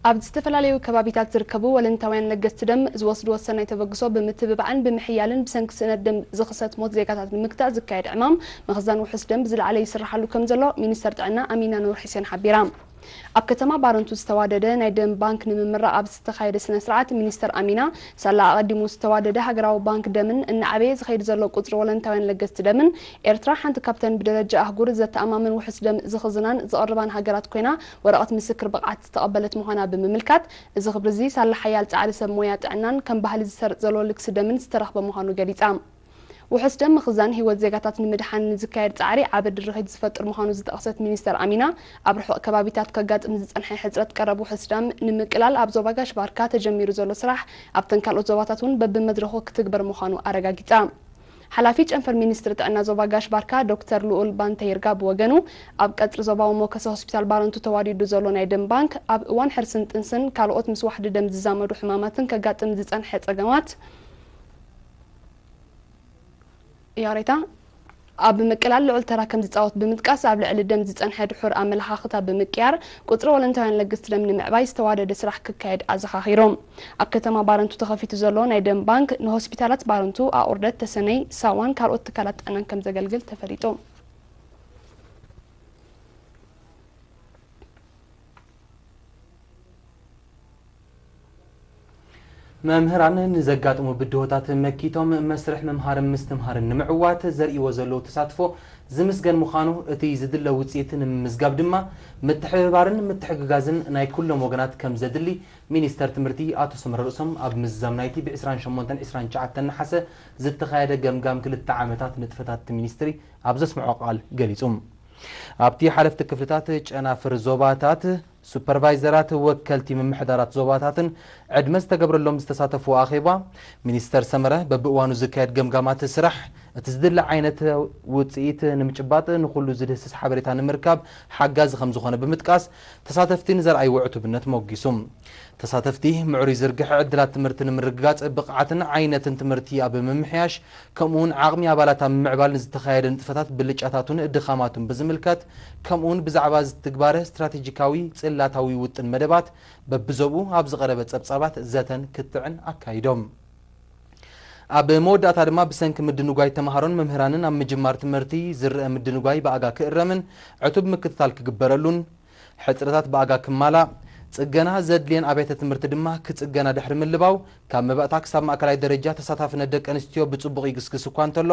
ኣብ ዝተፈላለዩ ከባቢታት ዝርከቡ ወለንታውያን ለገስቲ ደም ዝወስድዎ ሰናይ ተበግሶ ብምትብባዕን ብምሕያልን ብሰንኪ ስእነት ደም ዝኽሰት ሞት ዜጋታት ንምግታእ ዝካየድ ዕማም ምኽዛን ውሑስ ደም ብዝለዓለ ይስራሓሉ ከምዘሎ ሚኒስተር ጥዕና ኣሚና ኑር ሒሴን ሓቢራ። ኣብ ከተማ ባረንቱ ዝተዋደደ ናይ ደም ባንክ ንምምራቕ ኣብ ዝተኻየደ ስነ ስርዓት ሚኒስተር ኣሚና ሳላ ኣቐዲሙ ዝተዋደደ ሃገራዊ ባንክ ደምን እናዓበየ ዝኸይድ ዘሎ ቁጽሪ ወለንታውያን ለገስቲ ደምን ኤርትራ ሓንቲ ካብተን ብደረጃ ኣህጉር ዘተኣማምን ውሑስ ደም ዝኽዝናን ዝቕርባን ሃገራት ኮይና ወረቐት ምስክር ብቕዓት ዝተቐበለት ምዃና ብምምልካት፣ እዚ ክብሪ'ዚ ሳላ ሓያል ጻዕሪ ሰብ ሞያ ጥዕናን ከም ባህሊ ዝሰርጽ ዘሎ ልግሲ ደምን ዝተረኽበ ምዃኑ ገሊጻ። ውሑስ ደም ምኽዛን ህይወት ዜጋታት ንምድሓን ንዝካየድ ጻዕሪ ዓቢ ድርኺት ዝፈጥር ምዃኑ ዝጠቐሰት ሚኒስተር ኣሚና፣ ኣብ ርሑቕ ከባቢታት ከጋጥም ዝጸንሐ ሕጽረት ቀረብ ውሑስ ደም ንምቅላል ኣብ ዞባ ጋሽ ባርካ ተጀሚሩ ዘሎ ስራሕ ኣብተን ካልኦት ዞባታት'ውን በብመድረኹ ክትግበር ምዃኑ ኣረጋጊጻ። ሓላፊ ጨንፈር ሚኒስትሪ ጥዕና ዞባ ጋሽ-ባርካ ዶክተር ልኡል ባንተይርጋ ብወገኑ፣ ኣብ ቀጽሪ ዞባዊ ሞከሰ ሆስፒታል ባረንቱ ተዋዲዱ ዘሎ ናይ ደም ባንክ፣ ኣብ እዋን ሕርስን ጥንስን ካልኦት ምስ ዋሕዲ ደም ዝዛመዱ ሕማማትን ከጋጥም ዝጸንሐ ጸገማት፣ ይቕሬታ፣ ኣብ ምቅላል ልዑል ተራ ከምዝጻወት ብምጥቃስ፣ ኣብ ልዕሊ ደም ዝጸንሐ ድሑር ኣመለኻኽታ ብምቅያር፣ ቁጽሪ ወለንታውያን ለግስቲ ደም ንምዕባይ ዝተዋደደ ስራሕ ክካየድ ኣዘኻኺሩ። ኣብ ከተማ ባረንቱ ተኸፊቱ ዘሎ ናይ ደም ባንክ ንሆስፒታላት ባረንቱ፣ ኣቑርደት፣ ተሰነይ፣ ሳዋን ካልኦት ትካላት ጥዕናን ከምዘገልግል ተፈሊጡ። መምህራን ንዘጋጥሙ ብድሆታት መኪቶም መስርሕ ምምሃርን ምስትምሃርን ንምዕዋት ዘርእይዎ ዘለዉ ተሳትፎ ዝምስገን ምዃኑ፣ እቲ ዝድለ ውፅኢት ንምምዝጋብ ድማ ምትሕብባርን ምትሕግጋዝን ናይ ኩሎም ወገናት ከምዘድሊ ሚኒስተር ትምህርቲ ኣቶ ሰመረ ርእሶም ኣብ ምዝዛም ናይቲ ብ ዕስራን ሸሞንተን ዕስራን ትሽዓተን ነሓሰ ዝተኻየደ ገምጋም ክልተ ዓመታት ንጥፈታት'ቲ ሚኒስትሪ ኣብ ዘስምዖ ቃል ገሊጹ። ኣብ'ቲ ሓለፍቲ ክፍልታት፣ ጨናፍር ዞባታት፣ ሱፐርቫይዘራት፣ ወከልቲ ምምሕዳራት ዞባታትን ዕድመ ዝተገብረሎም ዝተሳተፍዎ ኣኼባ፣ ሚኒስተር ሰመረ በብእዋኑ ዝካየድ ገምጋማት ስራሕ፣ እቲ ዝድለ ዓይነት ውጽኢት ንምጭባጥ ንኹሉ ዝድህስስ ሓበሬታ ንምርካብ ሓጋዚ ከምዝኾነ ብምጥቃስ፣ ተሳተፍቲ ንዘርኣይዎ ዕቱብነት ሞጊሱ። ተሳተፍቲ፣ ምዕሩይ ዝርግሐ ዕድላት ትምህርቲ ንምርግጋጽ፣ ብቕዓትን ዓይነትን ትምህርቲ ኣብ ምምሕያሽ፣ ከምኡ'ውን ዓቕሚ ኣባላት ኣብ ምምዕባል ንዝተኻየደ ንጥፈታት ብልጫታቱን ድኻማቱን ብዝምልከት፣ ከምኡ'ውን ብዛዕባ ዝትግባረ ስትራቴጂካዊ ጽላታዊ ውጥን መደባት በብዞብኡ ኣብ ዝቐረበ ጸብጻባት ዘተን ክትዕን ኣካይዶም። ኣብ መወዳእታ ድማ ብሰንኪ ምድንጓይ ተመሃሮን መምህራንን ኣብ ምጅማር ትምህርቲ ዝረኣ ምድንጓይ ብኣጋ ክእረምን ዕቱብ ምክትታል ክግበረሉን፣ ሕጽረታት ብኣጋ ክማላእ፣ ጽገና ዘድልየን ኣብያተ ትምህርቲ ድማ ክጽገና ድሕሪ ምልባው፣ ካብ መባእታ ክሳብ ማእከላይ ደረጃ ተሳታፍነት ደቂ ኣንስትዮ ብጽቡቕ ይግስግስ እኳ እንተሎ፣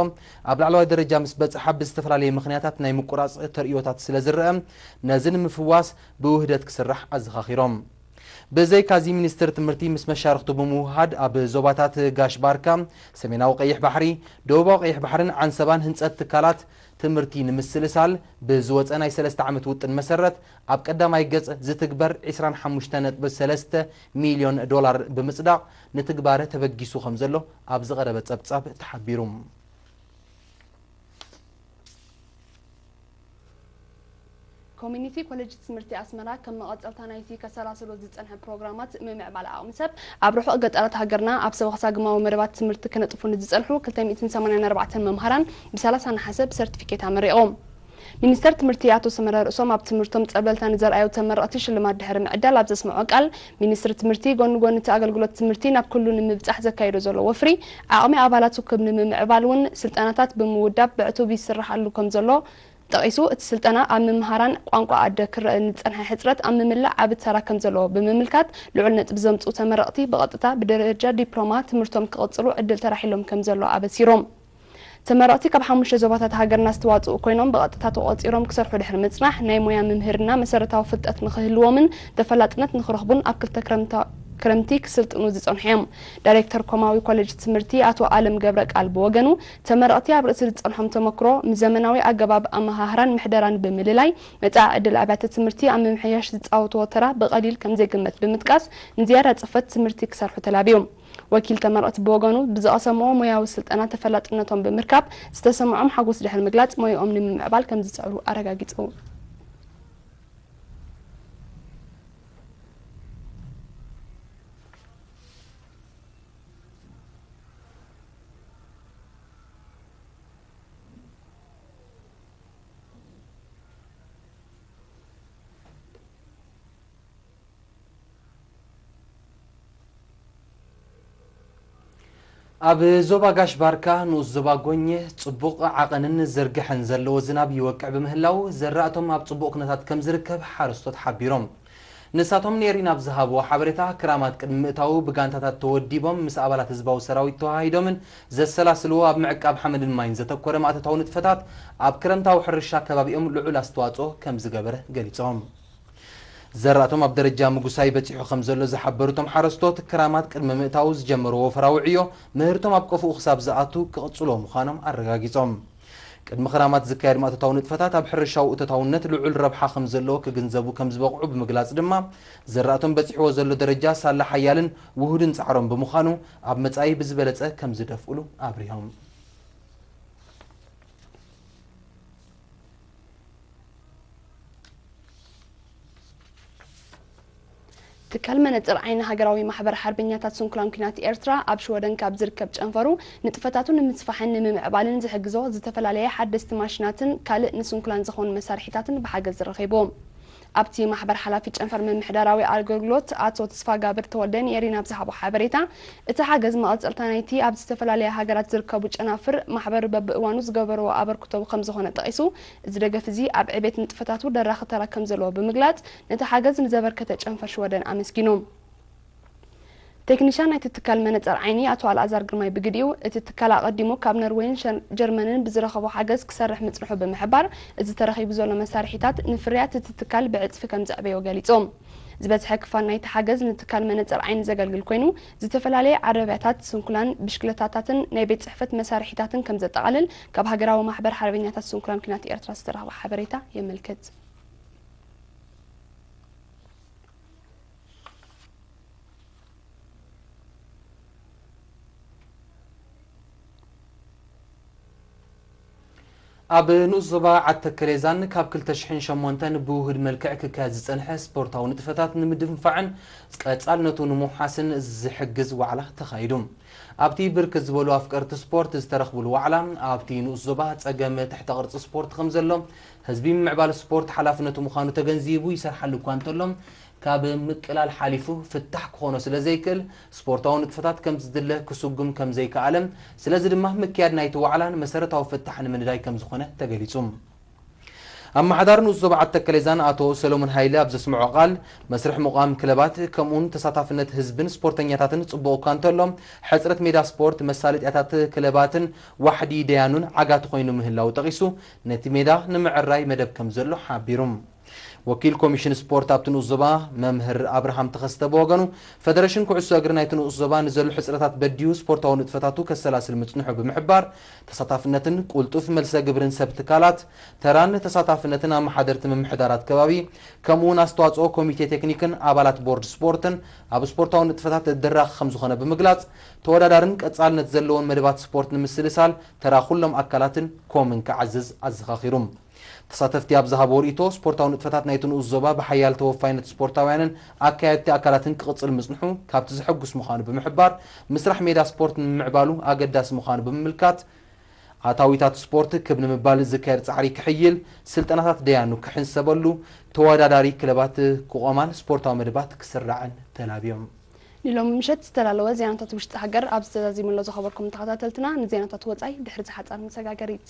ኣብ ላዕለዋይ ደረጃ ምስ በጽሓ ብዝተፈላለየ ምኽንያታት ናይ ምቁራጽ ተርእዮታት ስለዝረኣ፣ ነዚ ንምፍዋስ ብውህደት ክስራሕ ኣዘኻኺሮም። ብዘይካ'ዚ ሚኒስትሪ ትምህርቲ ምስ መሻርኽቱ ብምውህሃድ ኣብ ዞባታት ጋሽ ባርካ፣ ሰሜናዊ ቀይሕ ባሕሪ፣ ደቡባዊ ቀይሕ ባሕርን ዓንሰባን ህንፀት ትካላት ትምህርቲ ንምስልሳል ብዝወፀ ናይ ሰለስተ ዓመት ውጥን መሰረት ኣብ ቀዳማይ ገፅ ዝትግበር ዕስራን ሓሙሽተን ነጥቢ ሰለስተ ሚልዮን ዶላር ብምፅዳቕ ንትግባረ ተበጊሱ ከምዘሎ ኣብ ዝቐረበ ፀብፃብ ተሓቢሩ። ኮሚኒቲ ኮሌጅ ትምህርቲ ኣስመራ ከም መቐጸልታ ናይቲ ከሰላስሎ ዝጸንሐ ፕሮግራማት ምምዕባል ዓቕሚ ሰብ፣ ኣብ ርሑቕ ገጠራት ሃገርና ኣብ ሰበኽሳ ግማዊ መደባት ትምህርቲ ክነጥፉ ንዝጸንሑ ክልተ ሚእትን ሰማንያን ኣርባዕተን መምሃራን ብ ሰላሳ ነሓሰ ብሰርቲፊኬት ኣመሪቑ። ሚኒስተር ትምህርቲ ኣቶ ሰመረ ርእሶም ኣብ ትምህርቶም ጸብለልታ ንዘርኣዩ ተመረቕቲ ሽልማት ድሕሪ ምዕዳል ኣብ ዘስመዖ ቃል፣ ሚኒስትሪ ትምህርቲ ጎኒ ጎኒ እቲ ኣገልግሎት ትምህርቲ ናብ ኩሉ ንምብፃሕ ዘካይዶ ዘሎ ወፍሪ ዓቕሚ ኣባላቱ ክብ ንምምዕባል እውን ስልጠናታት ብምውዳብ ብዕቱብ ይስረሓሉ ከምዘሎ ጠቒሱ እቲ ስልጠና ኣብ ምምሃራን ቋንቋ ኣደ ክረእ ንዝፀንሐ ሕፅረት ኣብ ምምላእ ዓቢ ተራ ከምዘለዎ ብምምልካት ልዑል ነጥቢ ዘምፅኡ ተመረቕቲ ብቐጥታ ብደረጃ ዲፕሎማ ትምህርቶም ክቕፅሉ ዕድል ተራሒሎም ከምዘሎ ኣበሲሮም። ተመረቕቲ ካብ ሓሙሽተ ዞባታት ሃገርና ዝተዋጽኡ ኮይኖም ብቐጥታ ተቖጺሮም ክሰርሑ ድሕሪ ምጽናሕ ናይ ሞያ ምምህርና መሰረታዊ ፍልጠት ንኽህልዎምን ተፈላጥነት ንኽረኽቡን ኣብ ክልተ ክረምቲ ክስልጥኑ ዝጸንሑ'ዮም። ዳይሬክተር ኮማዊ ኮሌጅ ትምህርቲ ኣቶ ኣለም ገብረቃል ብወገኑ ተመረቕቲ ኣብ ርእሲ ዝጸንሖም ተመክሮ ምስ ዘመናዊ ኣገባብ ኣመሃህራን ምሕደራን ብምልላይ መጻኢ ዕድል ኣብያተ ትምህርቲ ኣብ ምምሕያሽ ዝጻወትዎ ተራ ብቐሊል ከምዘይግመት ብምጥቃስ ንዝያዳ ጽፈት ትምህርቲ ክሰርሑ ተላብዩ። ወኪል ተመረቕቲ ብወገኑ፣ ብዝቐሰምዎ ሞያዊ ስልጠና ተፈላጥነቶም ብምርካብ ዝተሰምዖም ሓጎስ ድሕሪ ምግላጽ፣ ሞያኦም ንምምዕባል ከምዝጽዕሩ ኣረጋጊጹ። ኣብ ዞባ ጋሽ ባርካ ንኡስ ዞባ ጎኘ ፅቡቕ ዓቐንን ዝርግሐን ዘለዎ ዝናብ ይወቅዕ ብምህላዉ ዘራእቶም ኣብ ፅቡቕ ኩነታት ከምዝርከብ ሓረስቶት ሓቢሮም። ንሳቶም ንኤሪና ኣብ ዝሃብዎ ሓበሬታ ክራማት ቅድሚ ምእታዉ ብጋንታታት ተወዲቦም ምስ ኣባላት ህዝባዊ ሰራዊት ተወሃሂዶምን ዘሰላስልዎ ኣብ ምዕቃብ ሓመድን ማይን ዘተኮረ ማእቶታዊ ንጥፈታት ኣብ ክረምታዊ ሕርሻ ከባቢኦም ልዑል ኣስተዋፅኦ ከምዝገበረ ገሊፆም። ዘራእቶም ኣብ ደረጃ ምጉሳይ በፂሑ ከምዘሎ ዝሓበሩ እቶም ሓረስቶት፣ ክራማት ቅድሚ ምእታዉ ዝጀመርዎ ወፍራዊ ዕዮ ምህርቶም ኣብ ቀፎኡ ክሳብ ዝኣቱ ክቕፅልዎ ምዃኖም ኣረጋጊፆም። ቅድሚ ክራማት ዝካየድ ማእቶታዊ ንጥፈታት ኣብ ሕርሻዊ እቶታውነት ልዑል ረብሓ ከምዘለዎ ክግንዘቡ ከምዝበቕዑ ብምግላፅ ድማ ዘራእቶም በፂሕዎ ዘሎ ደረጃ ሳላ ሓያልን ውሁድን ፃዕሮም ብምዃኑ ኣብ መፃኢ ብዝበለፀ ከምዝደፍእሉ ኣብሪሆም። ትካል መነጽር ዓይኒ ሃገራዊ ማሕበር ሓርበኛታት ስንኩላን ኲናት ኤርትራ ኣብ ሽወደን ካብ ዝርከብ ጨንፈሩ ንጥፈታቱ ንምስፋሕን ንምምዕባልን ዝሕግዞ ዝተፈላለየ ሓደስቲ ማሽናትን ካልእ ንስንኩላን ዝኾኑ መሳርሒታትን ብሓገዝ ረኺቡ። ኣብቲ ማሕበር ሓላፊ ጨንፈር ምምሕዳራዊ ኣገልግሎት ኣቶ ተስፋጋብር ተወልደ ንኤሪና ኣብ ዝሃቦ ሓበሬታ፣ እቲ ሓገዝ መቐጸልታ ናይቲ ኣብ ዝተፈላለያ ሃገራት ዝርከቡ ጨናፍር ማሕበር በብእዋኑ ዝገበርዎ ኣበርክቶ ከምዝኾነ ጠቒሱ፣ እዚ ደገፍ እዚ ኣብ ዕቤት ንጥፈታቱ ደራኺ ተራ ከምዘለዎ ብምግላጽ፣ ነቲ ሓገዝ ንዘበርከተ ጨንፈር ሽወደን ኣመስጊኑ። ቴክኒሻን ናይቲ ትካል መነፀር ዓይኒ ኣቶ ኣልኣዛር ግርማይ ብግዲኡ፣ እቲ ትካል ኣቐዲሙ ካብ ነርወይን ጀርመንን ብዝረኸቦ ሓገዝ ክሰርሕ ምፅንሑ ብምሕባር፣ እዚ ተረኺቡ ዘሎ መሳርሒታት ንፍርያት እቲ ትካል ብዕፅፊ ከምዘዕበዮ ገሊፁ። ዝበዝሐ ክፋል ናይቲ ሓገዝ ንትካል መነፀር ዓይኒ ዘገልግል ኮይኑ፣ ዝተፈላለየ ዓረብያታት፣ ስንኩላን፣ ብሽክለታታትን ናይ ቤት ፅሕፈት መሳርሒታትን ከምዘጠቓልል ካብ ሃገራዊ ማሕበር ሓርበኛታት ስንኩላን ኲናት ኤርትራ ዝተረኽበ ሓበሬታ የመልክት። ኣብ ንኡስ ዞባ ዓድ ተከሌዛን ካብ ክልተ ሽሕን ሸሞንተን ብውሁድ መልክዕ ክካየድ ዝጸንሐ ስፖርታዊ ንጥፈታት ንምድንፋዕን ቀጻልነቱ ንምውሓስን ዝሕግዝ ዋዕላ ተኻይዱ። ኣብቲ ብርክት ዝበሉ ኣፍቀርቲ ስፖርት ዝተረኽብሉ ዋዕላ፣ ኣብቲ ንኡስ ዞባ ጸገም ትሕተ ቅርጺ ስፖርት ከምዘሎ፣ ህዝቢ ምምዕባል ስፖርት ሓላፍነቱ ምዃኑ ተገንዚቡ ይሰርሓሉ እኳ እንተሎ፣ ካብ ምቅላል ሓሊፉ ፍታሕ ክኾኖ ስለዘይክእል ስፖርታዊ ንጥፈታት ከምቲ ዝድለ ክስጉም ከምዘይከኣለ ስለዚ ድማ ምክያድ ናይቲ ዋዕላ ንመሰረታዊ ፍታሕ ንምንዳይ ከምዝኾነ ተገሊፁ። ኣመሓዳሪ ንኡስ ዞባ ዓዲ ተከሌዛን ኣቶ ሰለሙን ሃይለ ኣብ ዘስመዖ ቃል፣ መስርሕ ምቛም ክለባት ከምኡውን ተሳታፍነት ህዝብን ስፖርተኛታትን ፅቡቕ እኳ እንተሎ ሕፅረት ሜዳ ስፖርት፣ መሳለጥያታት ክለባትን ዋሕዲ ደያኑን ዓጋቲ ኮይኑ ምህላዉ ጠቒሱ ነቲ ሜዳ ንምዕራይ መደብ ከምዘሎ ሓቢሩ። ወኪል ኮሚሽን ስፖርት ኣብቲ ንኡስ ዞባ መምህር ኣብርሃም ተኸስተ ብወገኑ፣ ፈደረሽን ኩዕሶ እግሪ ናይቲ ንኡስ ዞባ ንዘሎ ሕጽረታት በዲሁ ስፖርታዊ ንጥፈታቱ ከሰላስል ምጽንሑ ብምሕባር፣ ተሳታፍነትን ቁልጡፍ መልሰ ግብርን ሰብ ትካላት፣ ተራን ተሳታፍነትን ኣመሓደርቲ ምምሕዳራት ከባቢ፣ ከምኡ'ውን ኣስተዋጽኦ ኮሚቴ ቴክኒክን ኣባላት ቦርድ ስፖርትን ኣብ ስፖርታዊ ንጥፈታት ዘደራኺ ከምዝኾነ ብምግላጽ፣ ተወዳዳርን ቀጻልነት ዘለዎን መደባት ስፖርት ንምስልሳል ተራ ኩሎም ኣካላትን ኮምን ክዓዝዝ ኣዘኻኺሩ። ተሳተፍቲ ኣብ ዝሃብዎ ርእይቶ፣ ስፖርታዊ ንጥፈታት ናይቲ ንኡስ ዞባ ብሓያል ተወፋይነት ስፖርታውያንን ኣካየድቲ ኣካላትን ክቕጽል ምጽንሑ ካብቲ ዘሐጉስ ምዃኑ ብምሕባር፣ ምስራሕ ሜዳ ስፖርት ንምምዕባሉ ኣገዳሲ ምዃኑ ብምምልካት፣ ኣታዊታት ስፖርት ክብ ንምባል ዝካየድ ጻዕሪ ክሕይል፣ ስልጠናታት ደያኑ ክሕንሰበሉ፣ ተወዳዳሪ ክለባት ክቖማን ስፖርታዊ መደባት ክስራዕን ተላብዮም። ንሎሚ ምሸት ዝተዳለወ ዜናታት ውሽጢ ሃገር ኣብዚ ተዛዚሙ ኣሎ ዝኸበርኩም ተኸታተልትና ንዜናታት ወጻኢ ድሕሪ ዝሓጻር መሰጋገሪት።